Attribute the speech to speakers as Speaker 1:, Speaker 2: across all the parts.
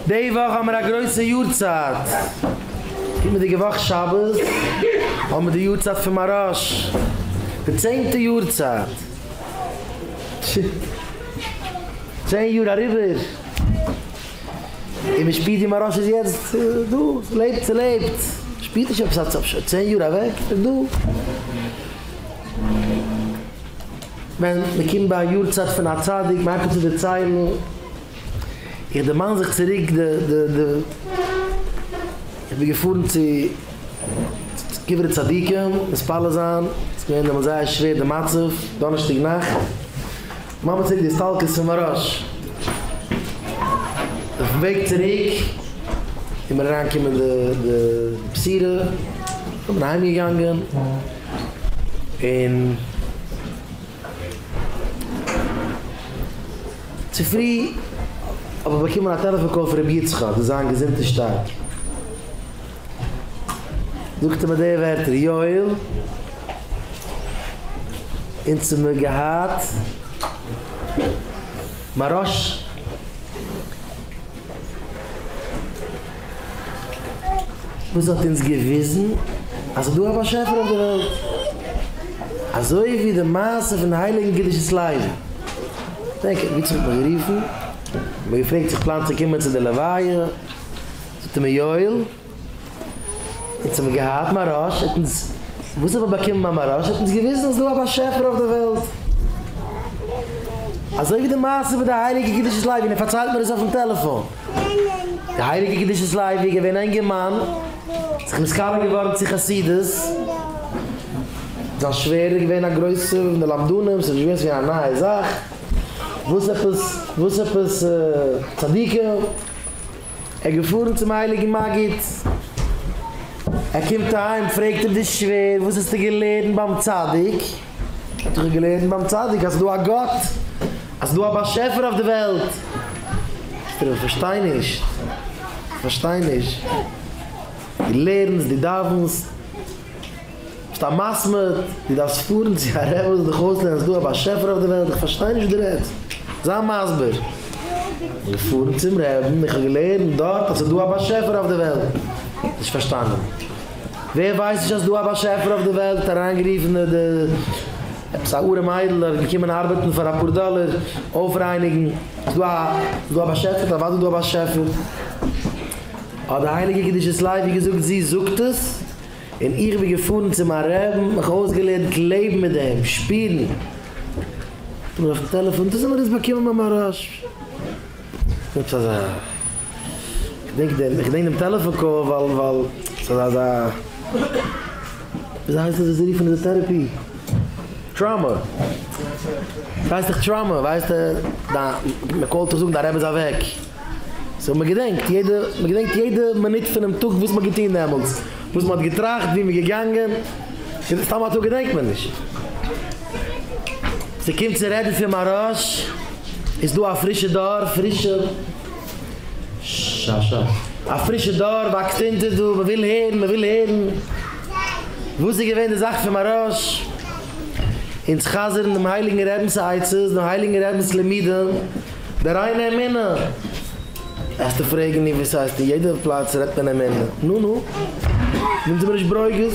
Speaker 1: די וואך האבן מיר א גרויסע יארצייט, קומענדיגע וואך שבת האבן מיר די יארצייט פון מהרש די צענטע יארצייט, צען יאר אריבער, און מען שפירט ווי מהרש איז יעצט דא, לעבט צו לעבט, מען שפירט נישט עפעס אז שוין צען יאר אוועק, ער איז דא. ווען מען קומט ביי א יארצייט פון א צדיק, מען הייבט אן צו דערציילן, איך דערמאן זיך צוריק די די די איך בין געפארן צו קברי צדיקים מתפלל זיין ס'איז געווען דעמאלטס זייער שווער די מצב דאנערשטאג נאכט ממש צוריק די הסתלקות פון מהר א ש אויפן וועג צוריק איז מיר אריינגעקומען די די בשורה איך בין אהיים געגאנגען און. צופרי האב איך באקומען א טעלעפאן קאל פון רבי יצחק זאל זיין געזונט און שטארק. זאגט ער מיר די ווערטער, יואל, אונז האמיר געהאט מרש. וואס האט אונז געוויזן אז ס'איז דא א באשעפער אויף די וועלט, אזוי ווי די מעשה פון די הייליגן קדושת לוי, דענק איך, ווי צו האט מען גערופן, האט מען געפרעגט צו איך פלאן צו קומען צו די לוויה, זאגט ער מיר יואל, אונז האבן געהאט מרש, האט אונז, וואס האט מען באקומען ביי מרש, האט אונז געוויזן אז ס'איז דא א באשעפער אויף די וועלט, אזוי ווי די מעשה פון די הייליגע קדושת לוי, און ער פארציילט מיר עס אויפן טעלעפאן. די הייליגע קדושת לוי איז געווען א אינגערמאן, זיך נשכר געווארן צו חסידות, זיין שווער איז געווען א גרויסע פון די למדנים, ס'איז נישט געווען צו גיין א נייע זאך, וואס עפעס וואס עפעס צדיקים, ער איז געפארן צום הייליגן מגיד, ער קומט אהיים פרעגט אים די שווער וואס האסטו געלערנט ביים צדיק? האט זיך ער געלערנט ביים צדיק אז ס'דא א גאט, אז ס'דא א באשעפער אויף די וועלט. זאגט ער אים, איך פארשטיי נישט, איך פארשטיי נישט. דו לערנסט, דו דאווענסט, ביסט א מסמר, דו דארפסט פארן צו א רב וואס וועט דיך אויסלערנען אז ס'דא א באשעפער אויף די וועלט? איך פארשטיי נישט וואס דו רעדסט, זיי מסביר. בין געפארן צום רבי'ן, איך האב געלערנט דארט אז ס'דא א באשעפער אויף די וועלט. נישט פארשטאנען. ווער ווייסט נישט אז ס'דא א באשעפער אויף די וועלט אריינגערופן די עפעס א ארעם איידל ער האט געקומען ארבעטן פאר אפאר דאלער אויפרייניגן, ס'דא א באשעפער? אוודאי איז דא א באשעפער. האט די הייליגע קדושת לוי געזאגט זי זאגט עס און איך בין געפארן צו מיין רעב און מיך אויסגעלערנט לעבן מיט דעם, שפירן. האט ער מיר אויפן טעלעפאן דאס האט ער עס באקומען ביי מהרש י. יעצט אזא כ'דענק דעם איך געדענק דעם טעלעפאן קאל ווייל ווייל ס'איז אזא וויאזוי הייסט עס וואס זיי רופן די טערעפי טראמא ס'הייסט דאך טראמא ווייסט דיין מ'קאלט דיך זאגן דיין רבי איז אוועק סאו מ'געדענקט יעדע מ'געדענקט יעדע מינוט פונעם טאג וואס מ'האט געטון דעמאלטס וואס מ'האט געטראכט ווי מ'איז געגאנגען סתם אזוי געדענקט מען נישט. ס'קומט צו רעדן פון מאראש איז דא א פרישע דור, פרישע ששש, א פרישע דור וואקסט אונטער דא, מ'וויל הערן, מ'וויל הערן, וואס איז געווען די זאך פון מאראש, אונז חזר'ן דעם הייליגן רבינ'ס עצות, דעם הייליגן רבינ'ס לימודים, די ריינע אמונה, וועסטו פרעגן נו וואס הייסט אין יעדע פלאץ רעדט מען אמונה, נו נו, זענט איר מיר נישט ברוגז?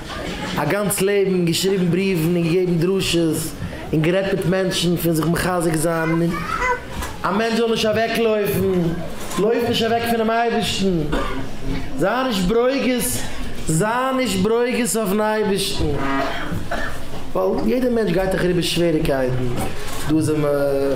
Speaker 1: א גאנץ לעבן געשריבן בריוון און געגעבן דרשות און גערעדט מיט מענטשן פון זיך מחזק זיין און א מענטש זאל נישט אוועק לויפן, לויף נישט אוועק פונעם אייבערשטן, זיי נישט ברוגז, זיי נישט ברוגז אויפן אייבערשטן, ווייל יעדער מענטש גייט דאך אריבער שוועריקייטן, דא זעמער.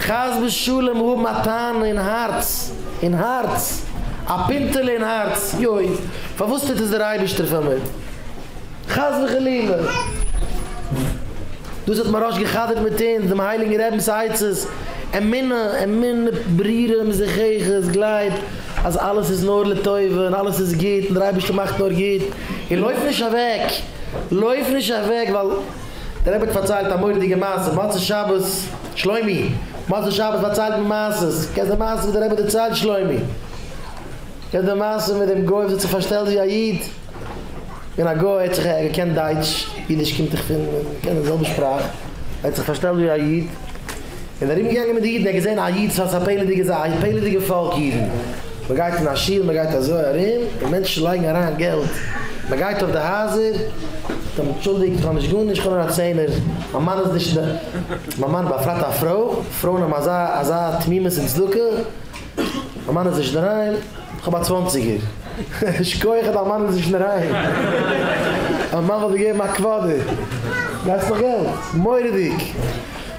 Speaker 1: חס ושלום האבן א טענה אין הארץ, אין הארץ, א פינטעלע אין הארץ, יוי, פארוואס טוט עס דער אייבערשטער פאר מיר? חס וחלילה! דאס האט מוהראש גע'חדר'ט מיט אונז, דעם הייליגן רבינ'ס עצות, אמונה, אמונה ברירה מזוככת, גלייב אז אלעס איז נאר לטובה, און אלעס איז גוט, און דער אייבערשטער מאכט נאר גוט, און לויף נישט אוועק, לויף נישט אוועק, ווייל. דער רבי האט פארציילט א מורא'דיגע מעשה מוצאי שבת, שלומי, מוצאי שבת פארציילט מען מעשות, קענסט די מעשה וואס דער רבי דערציילט שלומי? קענסט די מעשה מיט דעם גוי וואס האט זיך פארשטעלט ווי א איד? און א גוי האט זיך ער געקענט דייטש, אידיש קומט דאך פון, מ'קען די זעלבע שפראך, ער האט זיך פארשטעלט ווי א איד, און ארום געגאנגען מיט די אידן, ער האט געזען א איד סארט א פעלעדיגע זייט, פעלעדיגע פאלק אידן, מען גייט אין א שול, מען גייט אזוי ארום, און מענטשן לייגן אריין געלט, מען גייט אויף די הייזער, זאגט אים אנטשולדיגט איך האב נישט גארנישט, איך האב נאר א צענער, מיין מאן איז נישט אין די, מיין מאן באפרייט א פרוי, פרויען האבן אזא אזא תמימות אין צדקה, מיין מאן איז נישט אינדערהיים, איך האב א צוואנציגער, שכוח דיין מאן איז נישט אינדערהיים, מיין מאן וואלט דיר געגעבן א קוואדער, גייסט נאך געלט, מורא'דיג.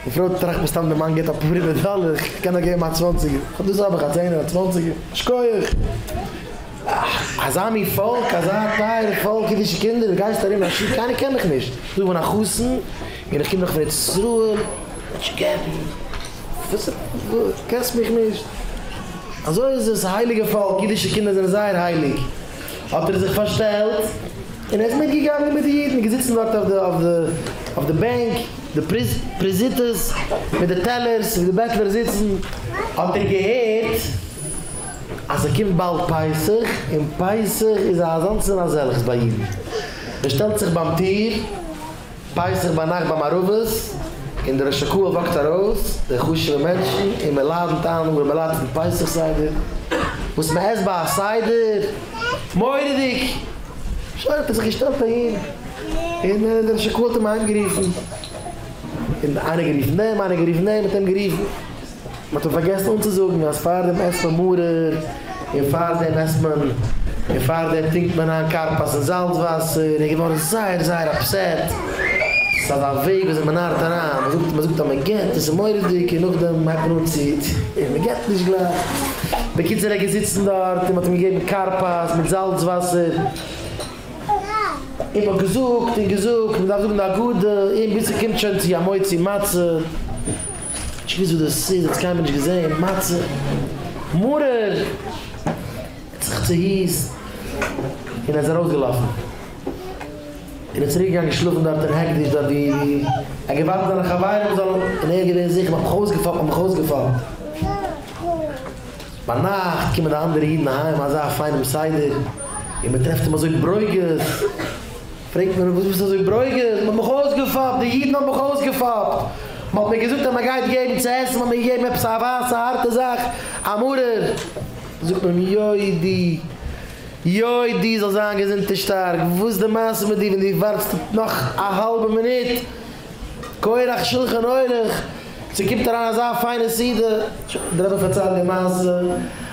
Speaker 1: די פרוי טראכט מסתם די מאן געט א פרימע דאלער, כ'קען נאך געבן א צוואנציגער, אט דאס האב איך, א צענער, א צוואנציגער, א שקויעך. אה, אזא מין פאלק, אזא טייערע פאלק, אידישע קינדער, דו גייסט ארום אין א שול, קיינער קען דיך נישט, איך בין א חתן און איך קום דאך פון ארץ ישראל, נישט געבן, וואס, קענסט מיך נישט, אזוי איז עס, א הייליגע פאלק, אידישע קינדער זענען זייער הייליג. האט ער זיך פארשטעלט און ער איז מיטגעגאנגען מיט די אידן און געזיצן דארט אויף די בענק, די פריזיטעס מיט די טעלערס ווי די בעטלער זיצן, האט ער געהערט אז ס'קומט באלד פסח און פסח איז אזאנס און אזעלכס ביי אידן, ער שטעלט זיך ביים טיר. פסח ביינאכט ביי מערבית, און דער ראש הקהל וואקט ארויס, די חשוב'ע מענטשן, און מען לאדענט איין אנגעהויבען ביי לייט פון פסח סדר, וואס מען עסט ביי א סדר, מורא'דיג! שוין האט ער זיך געשטעלט אהין, און דער ראש הקהל האט אים אהיים גערופן, און איינער גערופן דעם, איינער גערופן דעם, האט אים גערופן. מ'האט אים פארגעסן אנצוזאגן אז פאר דעם עסט מען מרור, און פאר דעם עסט מען, און פאר דעם טרינקט מען איין כרפס אין זאלץ וואסער, און ער איז געווארן זייער זייער אפסעט, ס'איז אזא וועג וויאזוי מ'נארט אריין, מ'זאגט מ'זאגט אז מ'געט און ס'איז מורא'דיג, און נאכדעם הייבט מען אן צו, און מ'געט נישט גלייך, בקיצור ער איז געזיצן דארט און מ'האט אים געגעבן כרפס מיט זאלץ וואסער, און מ'האט געזאגט און געזאגט מ'דארף זאגן די הגדה, און ביז ס'קומט שוין צו המוציא מצה. איך וויס וואס דאס איז, האט עס קיינמאל נישט געזען, מצה, מרור! האט זיך צוהיסט און איז ארויסגעלאפן. און איז צוריק געגאנגען שלאפן דארט אין העקדיש דארט ווי ער האט געווארט זיינע חברים זאלן און ער איז געווען זיכער מ'האט מיך אויסגעפאפט מ'האט מיך אויסגעפאפט. ביינאכט קומען די אנדערע אידן אהיים אזא פיינעם סדר און מ'טרעפט אים אזוי ברוגז. פרעגט מען אים, וואס ביסטו אזוי ברוגז? מען האט מיך אויסגעפאפט, די אידן האבן מיך אויסגעפאפט, מען האט מיר געזאגט אז מען גייט געבן צו עסן, מען האט מיר געגעבן עפעס א ווייסע הארטע זאך, א מרור, זאגט מען אים, יוי די, יוי די זאלסט זיין געזונט און שטארק, וואס די מעשה מיט דיר ווען דו ווארטסט נאך א האלבע מינוט, כורח שלחן עורך, צו קומט אריין אזא פיינע סעודה, די רבי פארציילט די מעשה.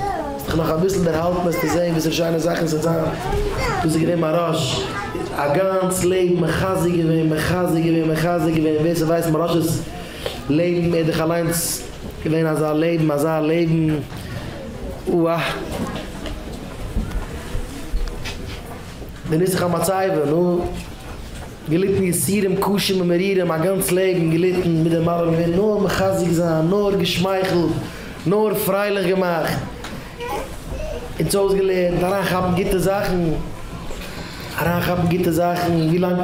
Speaker 1: האסט דיך נאך אביסל דערהאלטן וועסטו זען וואס פאר שיינע זאכן ס'וועט זיין, דאס איז געווען מיין רש י א גאנץ לעבן, מחזק געווען, מחזק געווען, מחזק געווען, ווער ס'ווייסט מיין רש י'ס לעבן, ער האט דאך אליינס געווען אזא לעבן, אזא לעבן, אוה. די נוסח המצבה, נו. געליטן יסורים קשים ומרירים א גאנץ לעבן געליטן מיט די מאמע מען ווערט נאר מחזק זיין נאר געשמייכלט נאר פרייליך געמאכט אונז אויסגעלערנט אריינכאפן גוטע זאכן אריינכאפן גוטע זאכן ווילאנג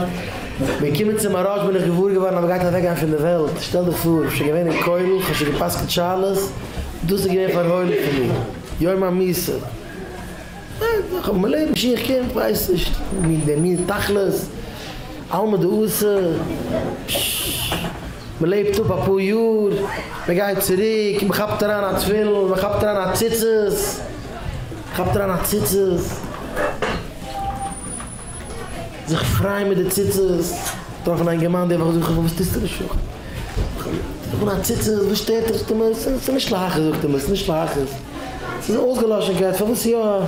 Speaker 1: מיר קומען צום מהראש בין איך געוואר געווארן אז מען גייט אוועקגיין פון די וועלט שטעל דיך פאר כ'בין שוין געווען אין כולל כ'האב שוין גע'פסק'נט שאלות דאס איז געווען פארהוילן פון מיר יום המוסר. איך האב מיין לעבן שוין כ'קען כ'ווייס נישט מי דער מי תכלית עלמא דאורתא מ'לעבט אפ אפאר יאר מ'גייט צוריק מ'כאפט אריין א תפילין מ'כאפט אריין א ציצית מ'כאפט אריין א ציצית. זיך פרייען מיט די ציצית דארף מען אינגערמאן די וואך זאג איך וואס טוסטו נישט פארן פון א ציצית וואס שטערט דיך זאגט ער מיר ס'איז נישט להכעיס זאגט ער מיר ס'איז נישט להכעיס ס'איז א אויסגעלאשענקייט פארוואס יא זאג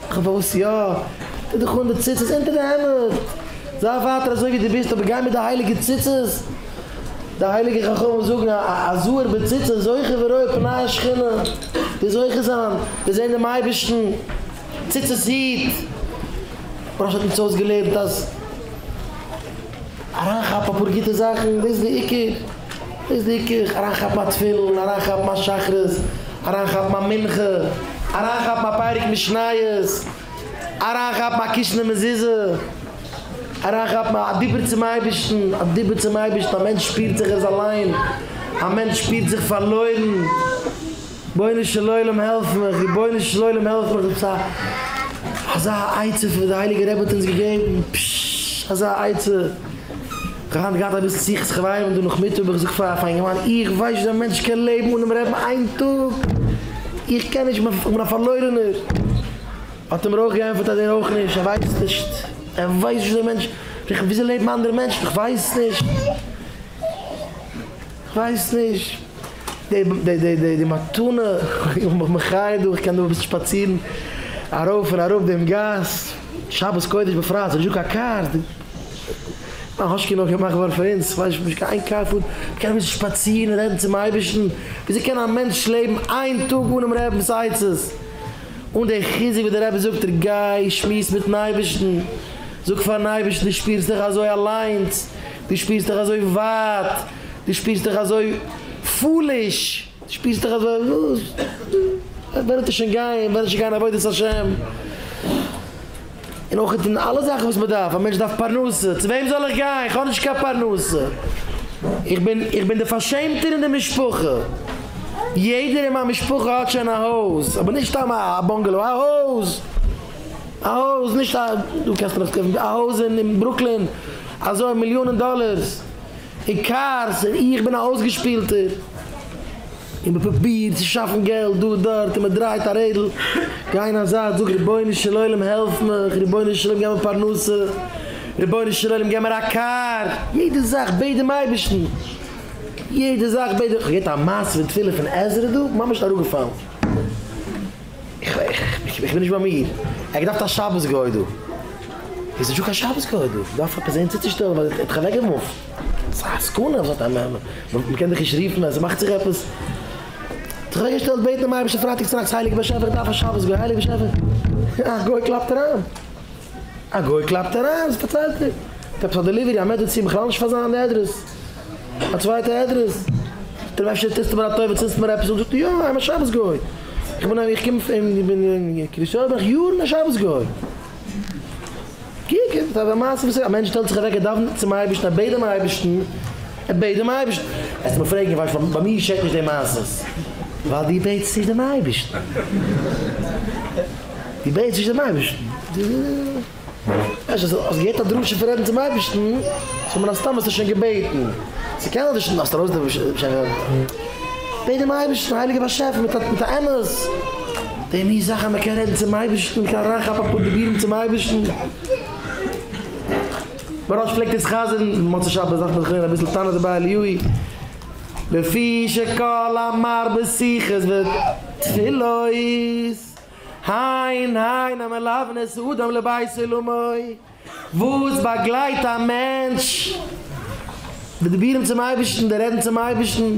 Speaker 1: איך פארוואס יא טו דיך אן די ציצית אונטער די העמד זיי ווייטער אזוי ווי די ביסט אבער גיי מיט די הייליגע ציצית די הייליגע חכמים זאגן א זהר בציצית זוכה ורואה פני השכינה ווער זוכה זיין וועט זען דעם אייבערשטן. ציצית איד, ר' אשר האט אונז אויסגעלערנט אז אריינכאפן אפאר גוטע זאכן דאס איז די עיקר, דאס איז די עיקר, אריינכאפן א תפילין, אריינכאפן א שחרית, אריינכאפן א מנחה, אריינכאפן א פרק משניות, אריינכאפן א קישענע מזוזה, אריינכאפן א דיבור צום אייבערשטן, א דיבור צום אייבערשטן, א מענטש שפירט זיך ער איז אליין, א מענטש שפירט זיך פארלוירן. בונו של עולם העלף מיך, רבונו של עולם העלף מיך, אזא אזא עצה פון וואס די הייליגע רבי האט אונז געגעבן, פששש אזא עצה, איך האב היינט געהאט אביסל שיחות חברים דא נאכמיטאג, איך זאג פאר א פיינער מאן, איך ווייס נישט ווי א מענטש קען לעבן אן אים רעדן איין טאג, איך קען נישט, איך בין א פארלוירענער, האט ער מיר אויך געענטפערט אז ער אויך נישט, ער ווייסט נישט, ער ווייסט נישט ווי אזוי מענטשן, וויאזוי לעבן אנדערע מענטשן, איך ווייס נישט, איך ווייס נישט. די מתנה איך בין מיך מחיה דא איך קען דא אביסל שפאצירן ארויף און אראפ דעם גאס שבת קודש בפרט ס'איז נישטא קיין קארס די האשקע נאר געמאכט געווארן פאר אונז ס'ווייל נישטא קיין איין קאר פארט מ'קען אביסל שפאצירן רעדן צום אייבערשטן וויאזוי קען א מענטש לעבן איין טאג אנעם רבינ'ס עצות אן די חיזוק וואס די רבי זאגט דיר גיי שמועס מיטן אייבערשטן זאג פארן אייבערשטן דו שפירסט דיך אזוי אליינס דו שפירסט דיך אזוי ווייט. דו שפירסט דיך אזוי פוליש, דו שפירסט דיך אזוי וואס, ווען וועט ער שוין גיין, ווען וועט ער שוין גיין עבודת השם, און אויך אין אלע זאכן וואס מען דארף, א מענטש דארף פרנסה, צו וועם זאל איך גיין, איך האב נישט קיין פרנסה, איך בין, איך בין דער פארשעמטער אין די משפחה, יעדער אין מיין משפחה האט שוין א הויז, אבער נישט סתם א באנגעלאו, א הויז, א הויז, נישט א, דא קענסטו נאך קויפן, א הויז אין ברוקלין, אזוי מיליאנען דאלערס. עיקר זע איך בין א אויסגעשפילטער און מ'פרוביר צו שאפן געלט דא דארט און מ'דרייט א רעדל גיין א זייט זאג רבונו של עולם העלף מיך רבונו של עולם געב מיר פרנסה רבונו של עולם געב מיר א קאר יעדע זאך בעט דעם אייבערשטן יעדע זאך בעט דעם כ'האב געהערט א מעשה ותפילה פון עזרא דא ממש אראפגעפאלן. איך בין נישט ביי מיר. ער האט געדארפט א שבת גוי דא. איז נישטא קיין שבת גוי דא. מ'דארף עפעס זעהן צוצושטעלן ווייל ער האט זיך אוועקגעמופט. ס'איז א סכנה אז מ'קען דיך נישט רופן אז ס'מאכט זיך עפעס. האט זיך אוועקגעשטעלט בעטן דעם אייבערשטן פרייטאג צונאכטס הייליגער באשעפער איך דארף א שבת גוי. הייליגער באשעפער א גוי קלאפט אריין. א גוי קלאפט אריין. פארציילט ער. האט עפעס א דעליווערי א מעדעצין בכלל נישט פאר זיין אדרעס. א צווייטע אדרעס, טרעף אפשר טוסטו מיר א טובה צינדסט מיר עפעס אן, זאגט ער יא איך בין א שבת גוי, איך בין איך קום פון איך בין אין קרית יואל בין איך יארן א שבת גוי, קוק עס איז א מעשה וואס א מענטש שטעלט זיך אוועק ער דאווענט צום אייבערשטן ער בעט דעם אייבערשטן, ער בעט דעם אייבערשטן, וועסט מיר פרעגן ווייל איך ביי מיר געשעט נישט די מעשות, ווייל דו בעטסט נישט דעם אייבערשטן, דו בעטסט נישט דעם אייבערשטן. אז ער האט געהערט א דרשה פון רעדן צום אייבערשטן, סאו מן הסתם האסטו שוין געבעטן, צו קענען די שטן האסטו בעט דעם אייבערשטן הייליגער באשעפער מיט א אמת, די מין זאך אז מען קען רעדן צום אייבערשטן, מען קען אריינכאפן אפאר דיבורים צום אייבערשטן, מוהראש פלעגט אונז חזר'ן מוצאי שבת דארף מען זיך לערנען אביסל תנא דבי אליהו, לפי שכל המרבה שיחות ותפילות. הן הן המלוון את האדם לבית עולמו, וואס באגלייט א מענטש בדיבורים צום אייבערשטן, די רעדן צום אייבערשטן.